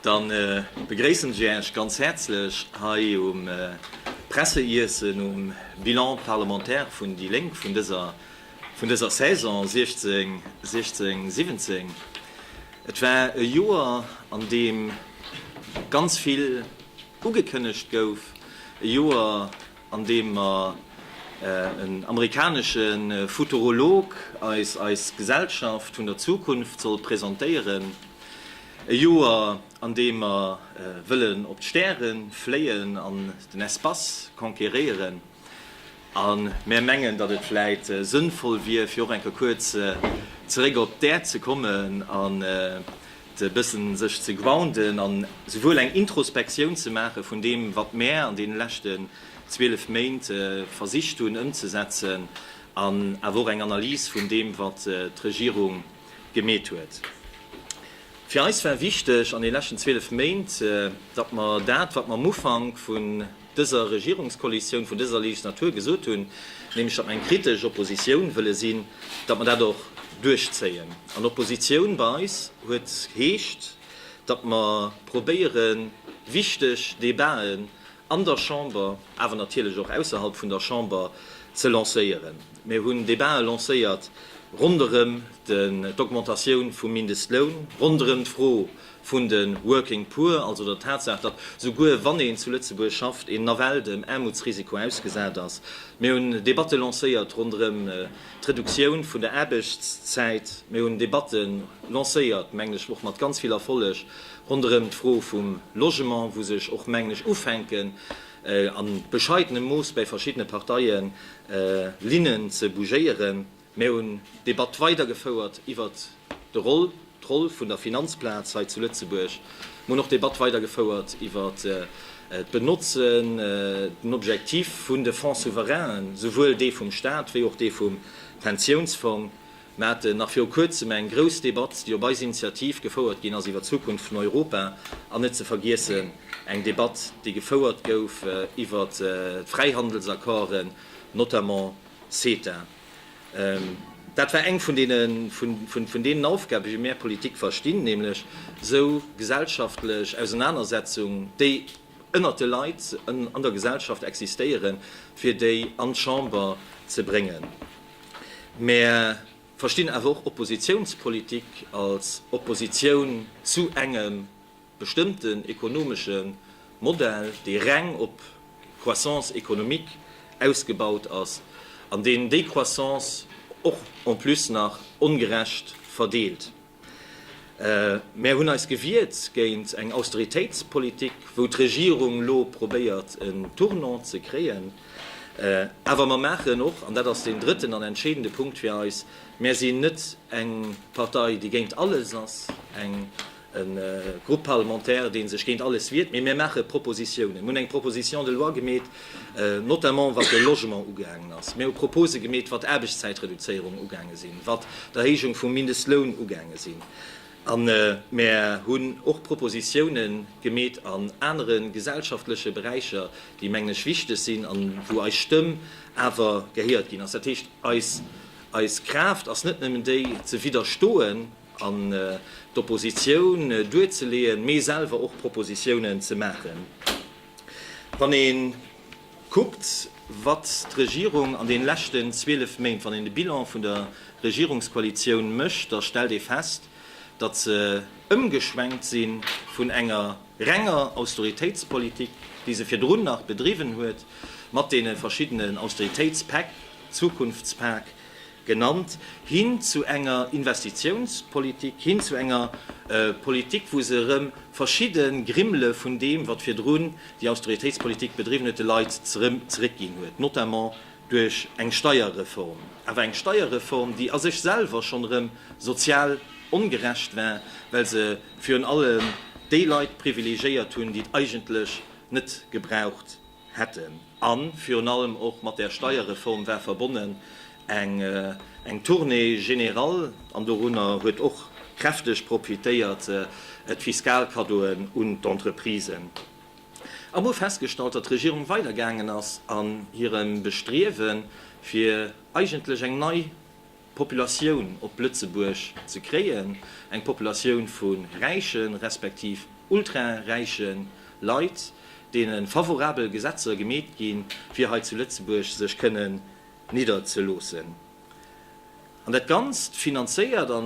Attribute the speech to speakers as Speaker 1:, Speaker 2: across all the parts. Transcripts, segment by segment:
Speaker 1: Dann begréissen ech Äech ganz häerzlech hei um Presseiessen um Bilan parlementaire vun déi Lénk vun dëser vun dëser Saison 16 16 17. Et war e Joer an deem ganz vill ugekënnegt gouf, e Joer, an deem mer en amerikanesche Futurolog eis eis Gesellschaft vun der Zukunft soll presentéieren, e Joer an deem mer wëllen op d'Stäre fléien an den Espace conquéréieren, a mär mengen, datt et vläit sënnvoll wier, fir och eng Kéier kuerz zeréck op d'Äerd ze kommen an, e bëssen sech ze grounden an souwuel eng Introspektioun ze maache vun deem, wat mär an deene leschten 12 Méint versicht hunn ëmzesetzen, an awer och eng Analys vun deem, wat d'Regierung gemeet huet. Fir eis war wichteg an deene leschten 12 Méint, datt mer dat, wat mer am Ufank vun dëser Regierungskoalitioun vun dëser Legislatur gesot hunn, nämlech datt mer eng kritesch Oppositioun wëlle sinn, datt mer dat och duerchzéien. An Oppositioun bei eis huet heescht, datt mer probéiere wichteg Debaten an der Chamber, awer natierlech och ausserhalb vun der Chamber ze lancéieren. Mir hunn Debatë lancéiert ronderëm d'Augmentatioun vum Mindestloun, ronderëm d'Fro, vun de Working Poor, also der Tatsaach, datt souguer wann een zu Lëtzebuerg schafft, een nawell dem Aarmutsrisiko ausgesat ass. Mir hunn Debatte lancéiert ronderëm d'Reduktioun vun der Aarbechtszäit. Mir hunn Debatte lancéiert, mengen ech och mat ganz vill Erfolleg, ronderëm d'Fro vum Logement, wou sech och, mengen ech, ufänken, a bescheidenem Mooss bäi verschiddene Parteien, Linnen ze bougéieren. Mir hunn d'Debatt weidergefouert iwwert de Roll, d'Roll vun der Finanzplaz hei zu Lëtzebuerg. Mir hunn och d'Debatt weidergefouert iwwert d'Benotzen, den Objectif vun de Fonds souverainen, souwuel dee vum Stat wéi och dee vum Pensiounsfong. Mir haten nach viru Kuerzem eng grouss Debatt, déi op eis Initiativ gefouert ginn ass, iwwert d'Zukunft vun Europa. An net ze vergiessen eng Debatt, déi gefouert gouf iwwert d'Fräihandelsaccorden, notamment CETA, dat war eng vun deenen Aufgaben, wéi mär Politik verstinn, nämlech esou gesellschaftlech Ausenanersetzung, déi ënnert de Leit an der Gesellschaft existéieren, fir déi an d'Chamber ze bréngen. Mär verstinn awer och Oppositionspolitik als Oppositioun zu engem bestëmmten ekonomesche Modell, dee reng op Croissance économique ausgebaut ass an deen déi Croissance och en plus nach ongerecht verdeelt. Mär hunn eis gewiert géint eng Austeritéitspolitik, wou d'Regierung elo probéiert en Tournant ze kréien. Awer mer maachen och, an dat ass deen drëtten an entscheedende Punkt fir eis, mär sinn net eng Partei, déi géint alles ass, eng. e Groupe parlementaire, dee sech géint alles wiert, mee mir maache Propositionen. Mir hunn eng Proposition de loi gemeet, notamment wat de Logement ugaangen ass. Mir hu Propose gemeet, wat d'Aarbechtszäitreduzéierung ugaange sinn, wat d'Erhéijung vum Mindestloun ugaange sinn. A mir hunn och Propositionne gemeet an anere gesellschaftleche Beräicher, déi, mengen ech, wichteg sinn a wou eis Stëmm awer gehéiert ginn ass. Dat heescht, eis Kraaft ass net nëmmen déi, ze widderstoen, an d'Oppositioun duerzeleeën, mee selwer och Propositiounen ze maachen. Wann ee kuckt, wat d'Regierung an deene leschten 12 Méint, wann een de Bilan vun der Regierungskoalitioun mécht, da stellt ee fest, datt se ëmgeschwenkt si vun enger renger Austeritéitspolitik, déi se virdrun nach bedriwwen huet, mat deene verschiddenen Austeritéitspäck, Zukunftspak, genannt, hin zu enger Investitiounspolitik, hin zu enger Politik, wou se erëm verschidde Grimmele vun deem, wat virdrun déi Austeritéitspolitik bedriwwen huet, de Leit zeréckginn huet, notamment duerch eng Steierreform, awer eng Steierreform, déi a sech selwer schonn erëm sozial ongerecht war, well se virun allem déi Leit privilegiéiert hunn, déi et eigentlech net gebraucht. hätten. A virun allem och mat där Steierreform war verbonnen eng Tournée générale, an dorunner huet och kräfteg profitéiert d'Fiskalkaddoen un d'Entreprisen. A mer hu festgestallt, datt d'Regierung weidergaangen ass an hirem Bestriewen, fir eigentlech eng nei. Populatioun op Lëtzebuerg ze kréien, eng Populatioun vu räiche respektiv ultraräiche Leit, deene favorabel Gesetzer gemeet ginn, fir hei zu Lëtzebuerg sech kënnen nidderzeloossen. An dat Ganzt finanzéiert a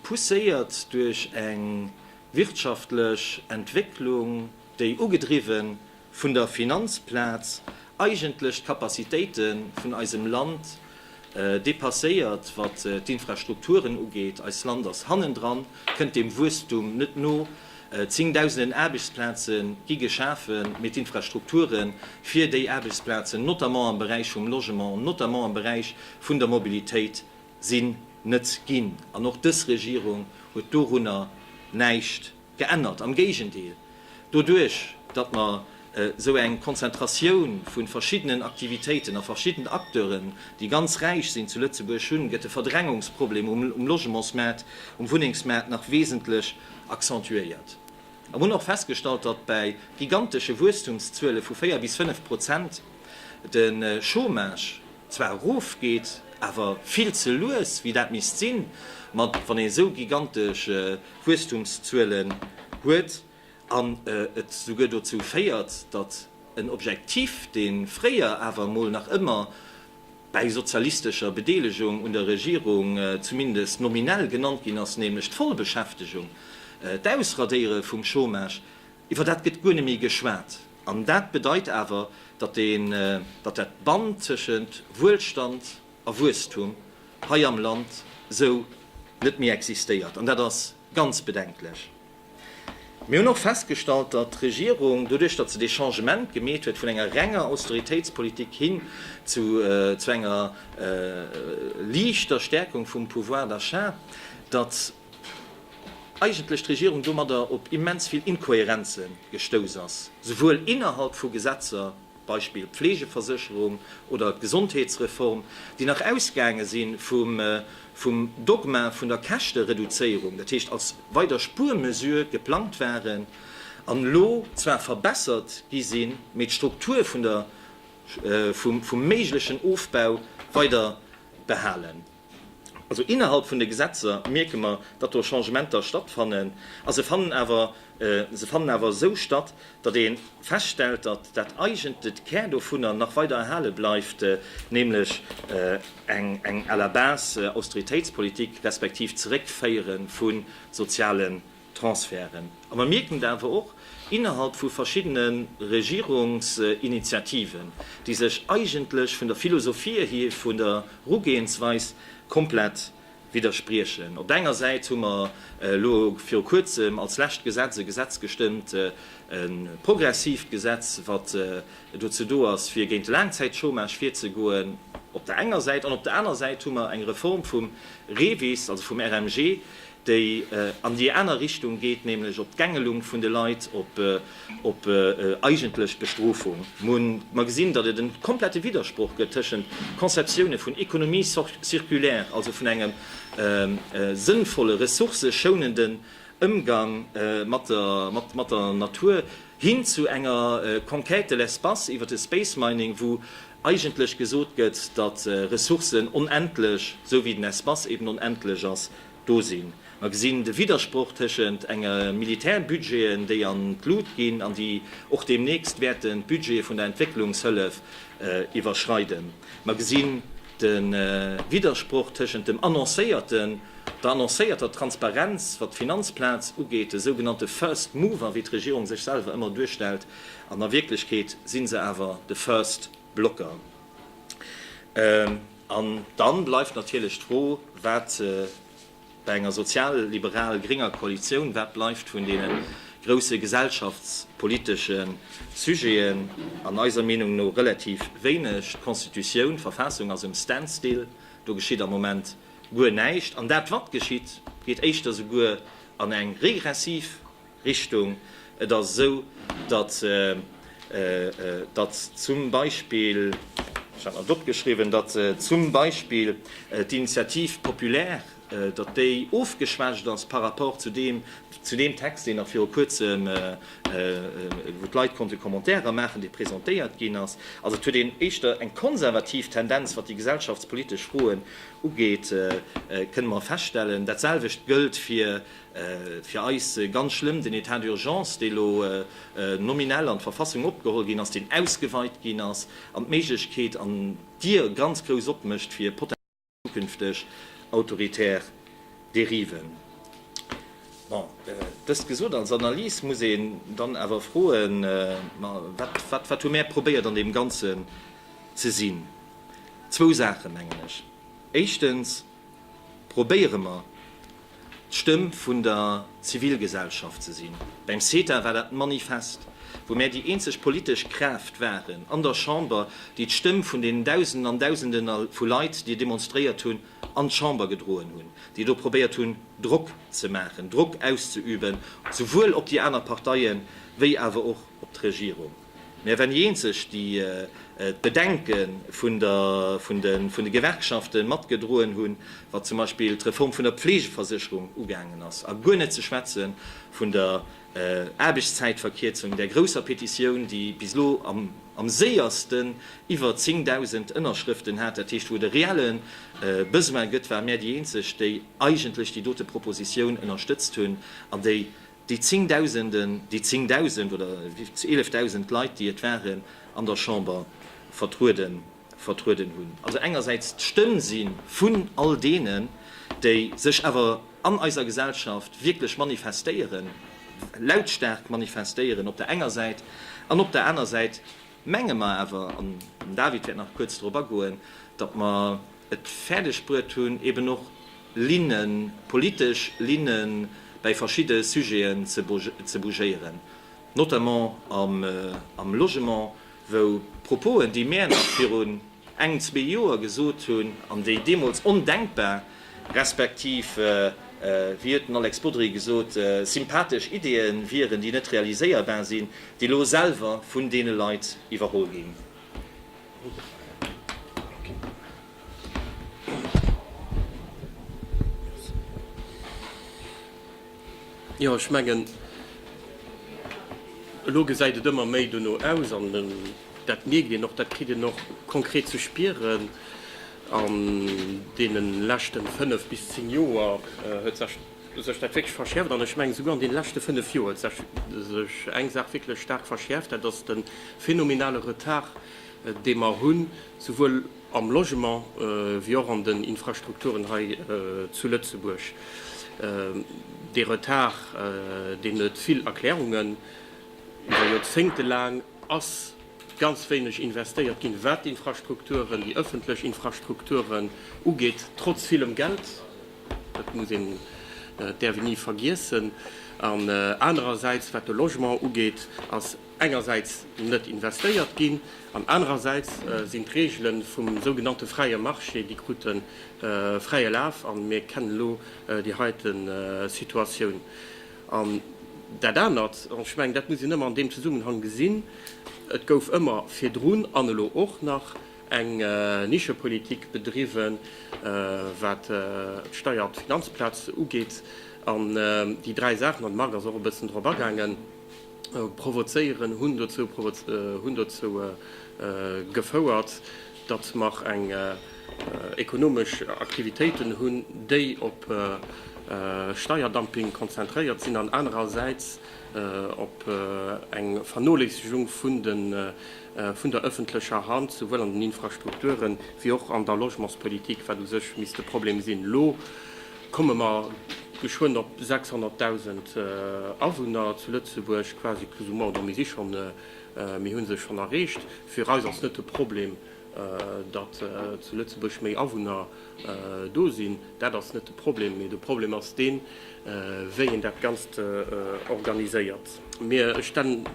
Speaker 1: pousséiert duerch eng wirtschaftlech Entwécklung, déi ugedriwwen vun der Finanzplaz eigentlech d'Capacitéite vun eisem Land dépasséiert, wat d'Infrastrukturen ugeet. Eist Land ass hannendran, kënnt dem Wuesstum net no. Zéngdausenden Aarbechtsplaze gi geschafen, mee d'Infrastrukture fir déi Aarbechtsplazen, notamment am Beräich vum Logement, notamment am Beräich vun der Mobilitéit, sinn net ginn. An och dës Regierung huet dorunner näischt. Geännert. Am Géigendeel, doduerch, datt mer esou eng Konzentratioun vu verschiddenen Aktivitéiten a verschiddenen Acteuren, déi ganz räich sinn, zu Lëtzebuerg hunn, gëtt de Verdrängungsproblem um Logementsmaart, um Wunnengsmaart nach wesentlech accentuéiert. A mer hunn och festgestallt, datt bäi gigantesche Wuesstumszuele vu véier bis fënnf Prozent de Chômage zwar erofgeet, awer vill ze lues, wéi dat misst sinn, ma wann ee esou gigantesch Wuesstumszuelen huet an et souguer dozou féiert, datt en Objektiv, dee fréier awer emol nach ëmmer bäi sozialistescher Bedeelegung un der Regierung zumindest nominell genannt ginn ass, nämlech d'Vollbeschäftegung, d'Ausradéiere vum Chômage, iwwer dat gëtt guer net méi geschwat. An dat bedeit awer, datt dat Band tëschent Wuelstand a Wuesstum hei am Land esou net méi existéiert, an dat ass ganz bedenklech. Mir hunn och festgestallt, datt d'Regierung, doduerch datt se dee Changement gemeet huet vun enger renger Austeritéitspolitik hin zu zu enger liichter Stärkung vum Pouvoir d'achat, datt eigentlech d'Regierung domadder op immens vill Inkohärenze gestouss ass, souwuel innerhalb vu Gesetzer, Beispill d'Pflegeversécherung oder d'Gesondheetsreform, déi nach ausgaange si vum Dogma vun der Käschtereduzéierung, dat heescht als weider Spuermesure geplangt waren an elo zwar verbessert gi sinn, mee d'Struktur vum méiglechen Ofbau weider behalen. Also innerhalb vun de Gesetzer mierke mer, datt do Changementer stattfannen. A se fannen awer, se fannen awer esou statt, datt ee feststellt, datt dat eigent let Kär dovunner nach weider erhale bleift, nämlech eng, eng à la base Austeritéitspolitik respektiv Zeréckféiere vu soziale Transferten. A mer mierken et awer och innerhalb vu verschiddene Regierungsinitiativen, déi sech eigentlech vun der Philosophie hir, vun der Rugehensweis komplett widderspriechen. Op der enger Säit hu mer elo viru Kuerzem als lescht Gesetz e Gesetz gestëmmt, e progressiivt Gesetz, wat dozou do ass, fir géint de Laangzäitchômage virzegoen, op der enger Säit. An op der aner Säit hu mer eng Reform vum REVIS, also vum RMG, déi an déi aner Richtung geet, nämlech op d'Gängelung vun de Leit, op eigentlech Bestrofung. Mer gesinn, datt et e komplette Widdersproch gëtt tëschent Conceptioune vun Économie circulaire, also vun engem sënnvolle ressourcëschounenden Ëmgang mat der Natur, hin zu enger Conquête de l'espace iwwert de Space Mining, wou eigentlech gesot gëtt, datt Ressourcen onendlech, esou wéi den Espace eben onendlech ass. do sinn. Mer gesinn de Widdersproch tëschent enge Militärbudgeten, déi an d'Lut ginn an déi och deemnächst wäerten d'Budgete vun der Entwécklungshëllef iwwerschreiden. Mer gesinn de Widdersproch tëschent dem annoncéierten, der annoncéierter Transparenz, wat d'Finanzplaz ugeet, de sougenannte First Mover, wéi d'Regierung sech selwer ëmmer duerstellt, an a Wierklechkeet si se awer de First. Blocker. An dann bleift natierlech d'Fro, wat bei enger sozial-liberal-grénger Koalitioun, wat bleift vun deene grousse gesellschaftspolitesche Sujeten, an eiser Meenung no relativ wéineg. D'Constitutioun, d'Verfassung ass um Standstill, do geschitt am Moment guer näischt. An dat, wat geschitt, geet éischter souguer an eng regressiv. Richtung. Et ass esou, datt, datt zum Beispill, ech hat mer dat opgeschriwwen, datt zum Beispill d'Initiative populaire, datt déi ofgeschwächt ass par rapport zu deem, zu deem Text, deen nach viru Kuerzem, wou d'Leit konnte Commentairen maachen, dee presentéiert ginn ass. Also et huet een éischter eng konservativ Tendenz, wat déi gesellschaftspolitesch Froen ugeet, kënne mer feststellen. Dat selwecht gëllt fir Fir eis ganz schlëmm, den Etat d'urgence, dee lo nominell an d'Verfassung opgeholl ginn ass, deen ausgeweit ginn ass an d'Méiglechkeet an d'Dier ganz grouss opmécht fir potenziell zukünfteg autoritär Dériven. Bon, dëst gesot, als Analys muss een dann awer froen, ma wat, wat hu mär probéiert an deem Ganzen ze sinn? Zwou Saachen, mengen ech. Éischtens. Probéiere mer, d'Stëmm vun der Zivilgesellschaft ze sinn. Beim CETA war dat manifest, wou mär déi eenzeg politesch Kraaft waren an der Chamber, déi d'Stëmm vun deenen Dausenden an Dausende vu Leit, déi demonstréiert hunn, an d'Chamber gedroen hunn, déi do probéiert hunn, Drock ze maachen, Drock auszeüben, souwuel op déi aner Parteien wéi awer och op d'Regierung. Mä wann déi eenzeg, déi d'Bedenke vun de Gewerkschafte matgedroen hunn, wat zum Beispill d'Reform vun der Pflegeversécherung ugaangen ass, a guer net ze schwätze vun der Aarbechtszäitverkierzung, där grousser Petitioun, déi bis elo am séierste iwwer 10.000 Ënnerschrëften hat, dat heescht, wou et e reelle Besoin gëtt, ware mär déi eenzeg, déi eigentlech déi dote Propositioun ënnerstëtzt hunn an déi Déi Zéngdausenden, déi Zéngdausend oder Eelefdausend Leit, déi et waren, an der Chamber vertrueden, vertrueden hunn. Also engersäits d'Stëmm si vun all deenen, déi sech awer an eiser Gesellschaft wierklech manifestéieren, lautstaark manifestéieren op der enger Säit an op der aner Säit, Menge mer awer, an den David wäert nach kuerz dorop agoen, datt mer et fäerdeg bruet hunn, eben och Linnen, politesch Linne bäi verschidde Sujeten ze bougéieren, notamment am Logement, wou Proposen, déi mär nach virun, Eng, zwee Joer gesot hunn, an déi deemools ondenkbar, respektiv wéi huet den Alex Bodry gesot, sympathesch Ideeë wieren, déi net realiséierbar sinn, déi elo selwer vun deene Leit iwwerholl ginn.
Speaker 2: Jo, ech mengen, elo gesäit et ëmmer méi dono aus. Dat mierkt een och, dat kritt een och konkret ze spieren an deene leschten fënnef bis zéng Joer huet sech sech dat wierklech verschäerft. An ech mengen, souguer an deene leschte fënnef Joer huet sech sech eng Saach wierklech staark verschäerft, dat ass de phänomenale Retard, dee mer hunn, souwuel am Logement wéi och an den Infrastrukturen hei zu Lëtzebuerg. Dee Retard, deen huet vill Erklärungen, iwwer Joerzéngte laang. ass ganz wéineg investéiert ginn, wat d'Infrastrukturen, déi ëffentlech Infrastrukturen ugeet, trotz villem Geld, dat muss een, dat däerf een ni vergiessen, an anerersäits, wat de Logement ugeet, ass engersäits net investéiert ginn an anerersäits sinn d'Regele vum sougenannte fräie Marché, déi krute fräie Laf a mir kennen elo déi heite Situatioun. An dat anert, an ech mengen, dat muss een ëmmer an deem Zesummenhang gesinn, Et gouf ëmmer virdrun an elo och nach eng Nischepolitik bedriwwen, wat d'Steier op d'Finanzplaz ugeet. An déi dräi Saachen, an de Marc ass och e bëssen drop agaangen, provozéieren, hunn dozou gefouert, datt mer eng ekonomesch Aktivitéiten hunn, déi op Steierdumping konzentréiert sinn an anerersäits op eng Vernoléissegung vun der ëffentlecher Hand, souwuel an den Infrastrukturen wéi och an der Logementspolitik, wat u sech misst e Problem sinn. Elo komme mer geschwënn op 600.000 Awunner zu Lëtzebuerg, quasi plus ou moins, do misst si schonn Mir hu se schonn erreecht. Fir eis ass net de Problem, datt zu Lëtzebuerg méi Awunner do sinn. Dat ass net de Problem. Mee de Problem ass deen, wéi een dat Ganzt organiséiert. Mir stellen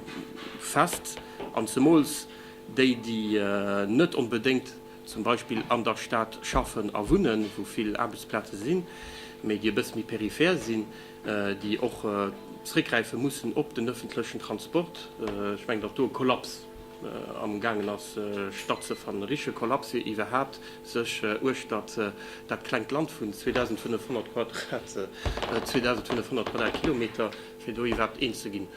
Speaker 2: fest, an zemools déi, déi net onbedéngt zum Beispill an der Stad schaffen a wunnen, wou vill Aarbechtsplaze sinn, mee déi e bësse méi peripher sinn, déi och zréckgräife mussen op den ëffentlechen Transport. Ech mengen, datt do e Kollaps am gaangen ass stattzefannen, e richtege Kollaps, fir iwwerhaapt sech uechtert dat klengt Land vun 2.500 Quadratkilometer, fir do iwwerhaapt eens ze ginn.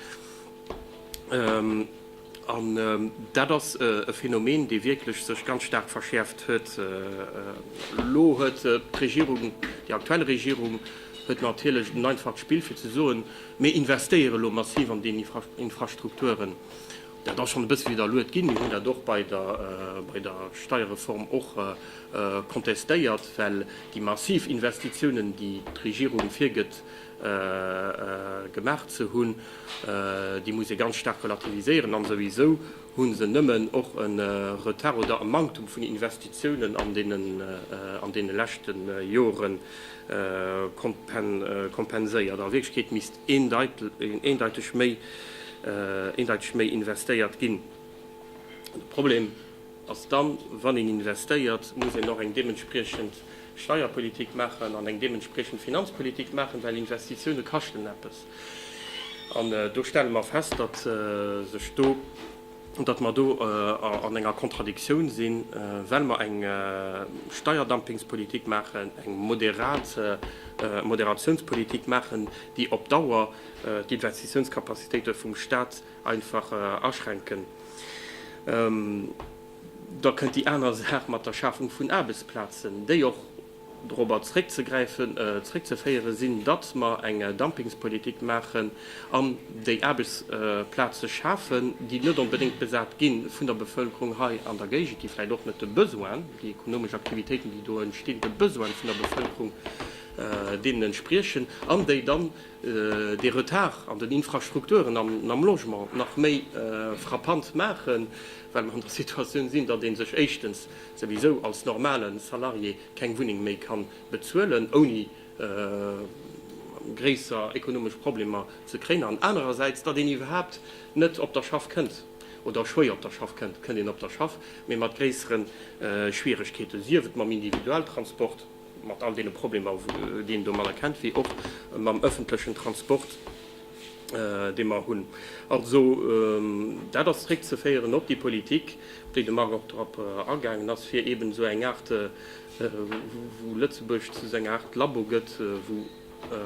Speaker 2: An dat ass e Phänomen, dee wierklech sech ganz staark verschäerft huet elo. Huet d'Regierung, déi aktuell Regierung huet natierlech en einfacht Spill fir ze soen, mir investéiere elo massiv an déi Infrastrukturen. Dat ass schonn e bësse widderluet ginn. Mir hunn dat och bei der Steierreform och kontestéiert, well déi massiv Investitiounen, déi d'Regierung virgëtt, gemaach ze hunn, déi muss ee ganz staark relativiséieren. An souwisou hu se nëmmen och e Retard oder e Manktum vun Investitiounen an deene leschte Jore kompenséiert. A Wierklechkeet misst eendeiteg méi investéiert ginn. De Problem. Ass dann, wann een investéiert, muss een och eng deementspriechend Steierpolitik maachen an eng deementspriechend Finanzpolitik maachen, well Investitioune kaschten eppes. An do stelle mer fest, datt sech do, datt mer do an enger Kontradiktioun sinn, well mer eng Steierdumpingspolitik maachen, eng moderat Moderatiounspolitik maachen, déi op Dauer d'Investitiounskapazitéite vum Stat, einfach aschränken, da kënnt déi aner Saach mat der Schafung vun Aarbechtsplazen, déi och dorobber zréckzeféiere sinn, datt mer eng Dumpingspolitik maachen an déi Aarbechtsplaze schafen, déi net onbedéngt besat gi vun der Bevëlkerung hei an der Géigend, déi vläicht och net de Besoinen, déi ekonomesch Aktivitéiten, déi do entstinn, de Besoine vun der Bevëlkerung deenen entspriechen an déi dann, dee Retard an den Infrastrukturen an am Logement nach méi frappant maachen, well mer an der Situatioun sinn, datt ee sech éischtens souwisou als normale Salarié keng Wunneng méi ka bezuelen, ouni gréisser ekonomesch Problemer ze kréien, an anerersäits, datt een iwwerhaapt net op der Schaff kënnt, oder schwéier op der Schaff kënnt, kënnt een op der Schaff, mee mat gréissere Schwieregkeeten, sief et mam Individualtransport, mat all deene Problemer, déi een domadder kennt, wéi och mam öffentlechen Transport, dee mer hunn. Also dat ass zréckzeféieren op déi Politik, op déi de Marc och drop agaangen ass, fir eeben esou eng Aart, wou Lëtzebuerg zu esou enger Aart Labo gëtt, wou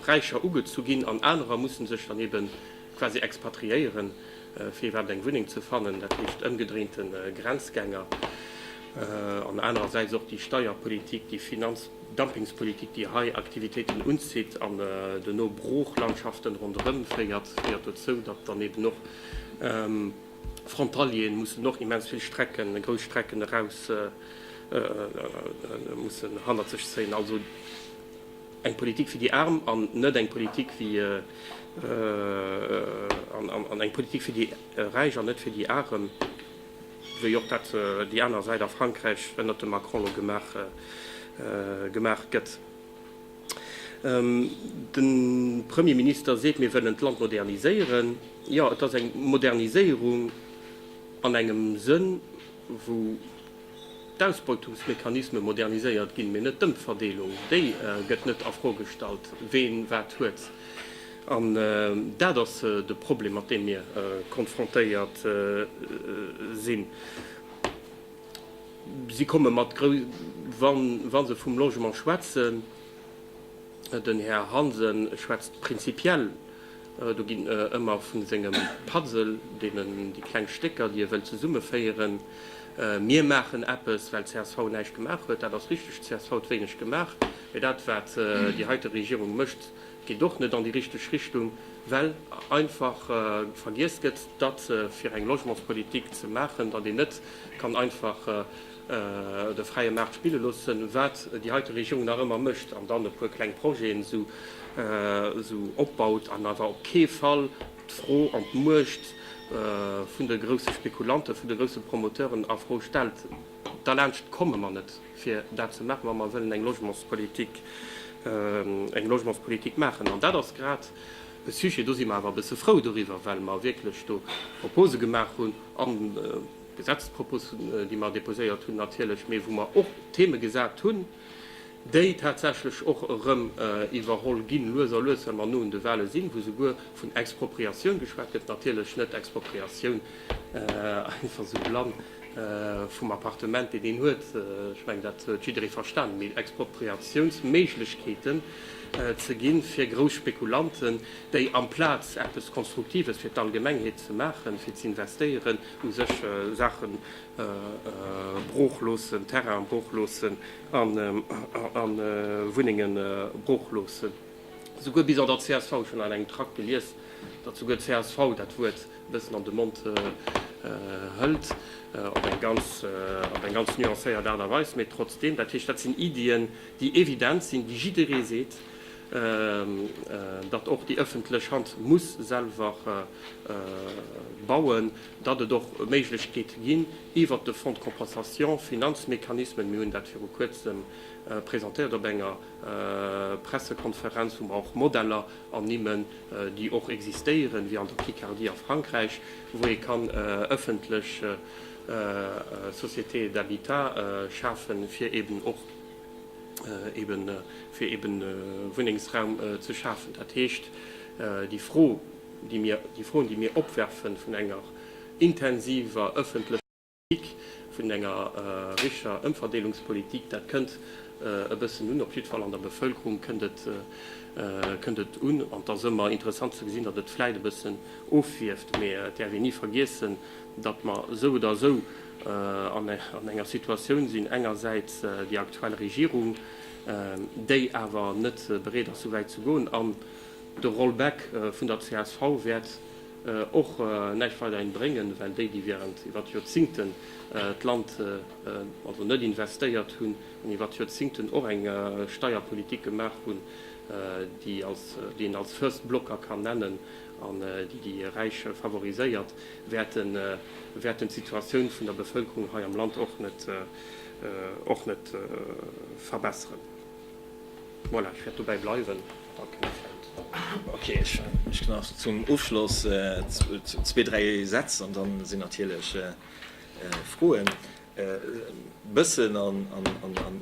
Speaker 2: Räicher ugezu ginn an anerer musse sech dann eebe quasi expatriéieren, Fir iwwerhaapt eng Wunneng ze fannen, dat heescht ëmgedréinte Grenzgänger an anerersäits och déi Steierpolitik, déi Finanzdumpings-Politik, déi hei Aktivitéiten unzitt an dono Broochlandschaften ronderëm féiert, féiert dozou, datt dann eben och Frontalieren mussen och immens vill Strecken, grouss Strecken eraus mussen hannert sech zéien. Eng Politik fir déi Aarm an net eng Politik fir déi Räich an net fir déi Aarem, wéi och dat déi aner Säit a Frankräich ënnert dem Macron elo gemaach gëtt. De Premier Minister seet, mir wëllen d'Land moderniséieren. Jo, et ass eng Moderniséierung an engem Sënn, wou. D'Ausbeutungsmechanisme moderniséiert ginn, mee net d'Ëmverdeelung. Déi gëtt net a Fro gestallt, ween wat huet. An dat ass de Problem, mat deem mir konfrontéiert sinn. Si komme mat grou, wa se vum Logement schwätzen, den Här Hansen schwätzt prinzipiell. Do ginn e ëmmer vu sengem Puzzle, deenen déi kleng Stécker, déi e wëll, zesummeféieren. Mir maachen eppes, well csv näischt gemaach huet. Dat ass richteg, csv huet wéineg gemaach. Mee dat, wat déi heite Regierung mécht, geet och net an déi richteg Richtung, well einfach vergiess gëtt, datt fir eng Logementspolitik ze maachen, datt een net kann einfach de fräie Maart spille loossen, wat déi heite Regierung nach ëmmer mécht, an dann e puer kleng Projeten esou opbaut, an awer op kee Fall d'Fro an d'Muecht vun de grousse Spekulanten, vun de grousse Promoteuren a Fro stellt. Derlaanscht komme mer net, fir dat ze maachen, wa mer wëllen eng Logementspolitik maachen. An dat ass grad e Sujet, do si mer awer e bësse frou doriwwer, well mer wierklech do Propose gemaach hunn, Gesetzespropusen, déi mer déposéiert hunn, natierlech, mee wou mer och Theme gesat hunn, déi tatsächlech och erëm iwwerholl ginn, lues a lues, well mer no un de Wahle sinn, wou souguer vun Expropriatioun geschwat gëtt, natierlech net Expropriatioun einfach esou blann vum Appartement, deen een huet, ech mengen, dat huet jidderee verstanen, mee Expropriatiounsméiglechkeeten ze gi fir grouss Spekulanten, déi amplaz eppes Konstruktives fir d'Allgemengheet ze maachen, fir ze investéieren, u sech Saache brooch loossen, Terrainen brooch loossen a Wunnenge brooch loossen. Souguer bis an der csv, ech hunn an engem Trakt gelies, datt souguer d'CSV dat Wuert e bëssen an de Mond hëlt, op eng ganz nuancéiert Aart a Weis, mee trotzdeem. Dat heescht, dat sinn Iddien, déi evident sinn, déi jidderee seet, datt och déi ëffentlech Hand muss selwer bauen, datt et och Méiglechkeete ginn iwwert de Fonds de compensation, Finanzmechanismen, mir hunn dat viru Kuerzem presentéiert op enger Pressekonferenz, wou mer och Modeller ernimmen, déi och existéieren, wéi an der Picardie a Frankräich, wou ee kann ëffentlech Sociétés d'habitat schafen, fir eeben och. fir eben Wunnengsraum ze schafen. Dat heescht, déi Fro, déi mir, déi Froen, déi mir opwerfen vun enger intensiver öffentlecher Politik, vun enger richer Ëmverdeelungspolitik, dat kënnt e bëssen un, op jiddwer Fall an der Bevölkerung kënnt et, kënnt et un. An et ass ëmmer interessant ze gesinn, datt et vläicht e bëssen ofwierft, mee et däerf een ni vergiessen, datt mer esou oder esou an enger Situatioun sinn, engersäits déi aktuell Regierung, déi awer net bereet ass, esou wäit ze goen, an de Rollback vun der csv wäert och näischt weiderhin bréngen, well déi, déi während iwwert Joerzingten d'Land also net investéiert hunn an iwwert Joerzingten och eng Steierpolitik gemaach hunn, déi een als First Blocker kann nennen, an déi déi Räich favoriséiert, wäerten d'Situatioun vun der Bevëlkerung hei am Land och net och net verbesseren. Voilà, ech wäert dobäi bleiwen. Danke, Här Feld. Ok,
Speaker 1: ech mécht nach zum Ofschloss zwee, dräi Sätz an da sinn natierlech Froen. E bëssen an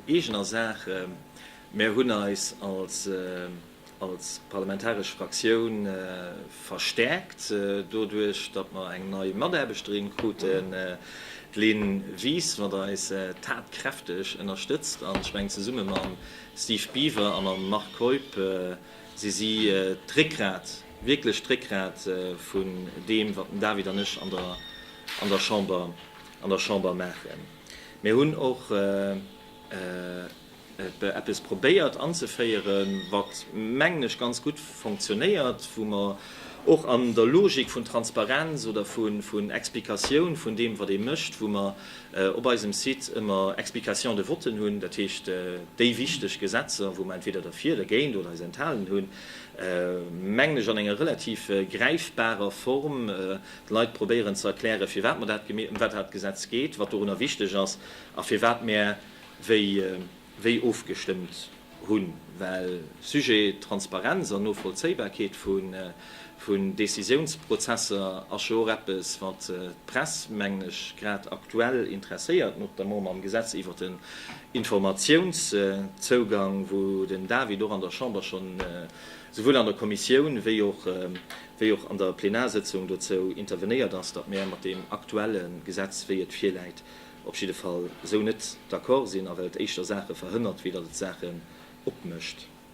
Speaker 1: eegener Saach, Mär hunn eis als. als parlamentaresch Fraktioun verstärkt doduerch, datt mer eng nei Mataarbechterin kruten, d'Lynn Wies, wat eis tatkräfteg ënnerstëtzt. An ech mengen, zesumme mam Steve Biever a mam Marc Keup si si d'Réckgrat, wierklech d'Réckgrat vun deem, wat den David an ech an der Chamber maachen. Mir hunn och. eppes probéiert anzeféieren, wat, mengen ech, ganz gutt fonctionnéiert, wou mer och an der Logik vun Transparenz oder vun Explikatioun vun deem, wat ee mécht, wou mer op eisem Site ëmmer Explications de vote hunn, dat heescht déi wichteg Gesetzer, wou mer entweder derfir, dergéint oder eis enthalen hunn, mengen ech, an enger relativ gräifbarer Form de Leit probéieren ze erklären, firwat mer dat, ëm wat dat Gesetz geet, wat dorunner wichteg ass a firwat mär, wéi ofgestëmmt hunn, well Sujet Transparenz an Novollzéibarkeet vun Décisiounsprozesser ass jo och eppes, wat d'Press, mengen ech, grad aktuell interesséiert, notamment mam Gesetz iwwert den Informatiounszougang, wou den David och an der Chamber schonn souwuel an der Kommissioun wéi och an der Plenarsëtzung dozou intervenéiert ass, datt mir mat deem aktuelle Gesetz, wéi et virläit, op jidde Fall esou net d'accord sinn a well et éischter Saache verhënnert, wéi datt et Saachen opmécht.